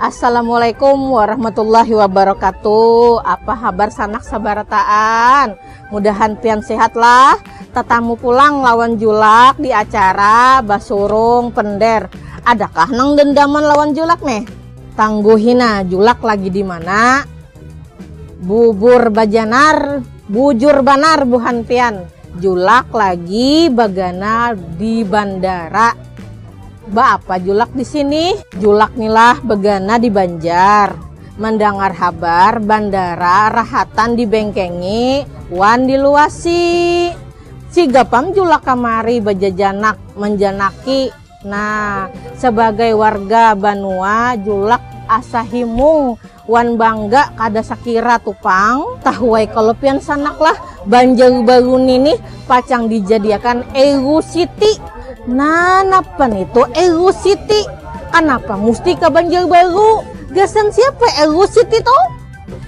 Assalamualaikum warahmatullahi wabarakatuh Apa habar sanak sabarataan Mudahan pian sehatlah Tatamu pulang lawan julak di acara Basurung Pender Adakah nang dendaman lawan julak neh? Tangguhi nah julak lagi dimana? Bubur bajanar Bujur banar buhan pian Julak lagi bagana di bandara. Baapa Julak di sini? Julak ni lah begana di Banjar, mandangar habar bandara rahatan di bengkengi wan di luasi. Siga pang Julak kamari bajajanak manjanaki. Nah, sabagai warga banua Julak asa himung Wan bangga kada sakira tu pang. Tahuai kalo pian sanak lah, Banjar Baru ni nih pacang dijadiakan Euro City. Nah, napa nih tu Euro City? Kanapa musti ka Banjar Baru? Gasan siapa Euro City tu?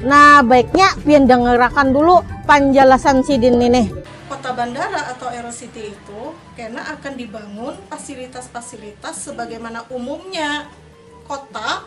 Nah, baiknya pian dangarakan dulu panjalasan sidin ni nih. Kota bandara atau Euro City itu kena akan dibangun pasilitas-pasilitas sebagaimana umumnya kota,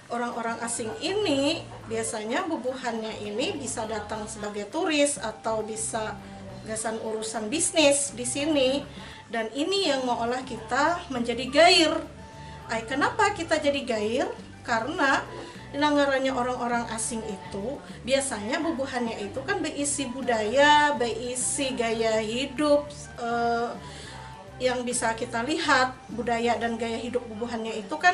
Orang-orang asing ini biasanya bubuhannya ini bisa datang sebagai turis atau bisa gasan urusan bisnis di sini dan ini yang meolah kita menjadi gair. Ai kenapa kita jadi gair? Karena nang ngarannya orang-orang asing itu biasanya bubuhannya itu kan beisi budaya, beisi gaya hidup yang bisa kita lihat budaya dan gaya hidup bubuhannya itu kan.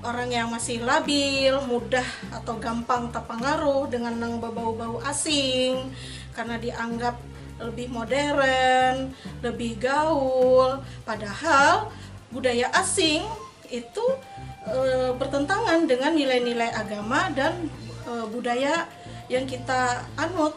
Orang yang masih labil, mudah atau gampang tapangaruh dengan nang babau-bau asing karena dianggap lebih modern, lebih gaul, padahal budaya asing itu bertentangan dengan nilai-nilai agama dan budaya yang kita anut.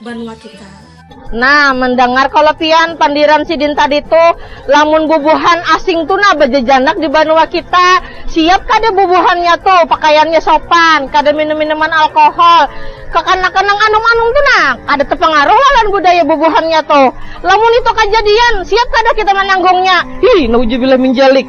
banua kita. Nah, mendangar kalo pian pandiran sidin tadi tu, lamun bubuhan asing tu nah bejejanak di banua kita, siap kada bubuhannya tu, pakaiannya sopan, kada minum minuman alkohol, kekanakan nang anum-anum tu nah kada tepengaruh lawan budaya bubuhannya tu. Lamun itu kajadian, siap kada kita menanggungnya? Hii, naujubillah min jalik.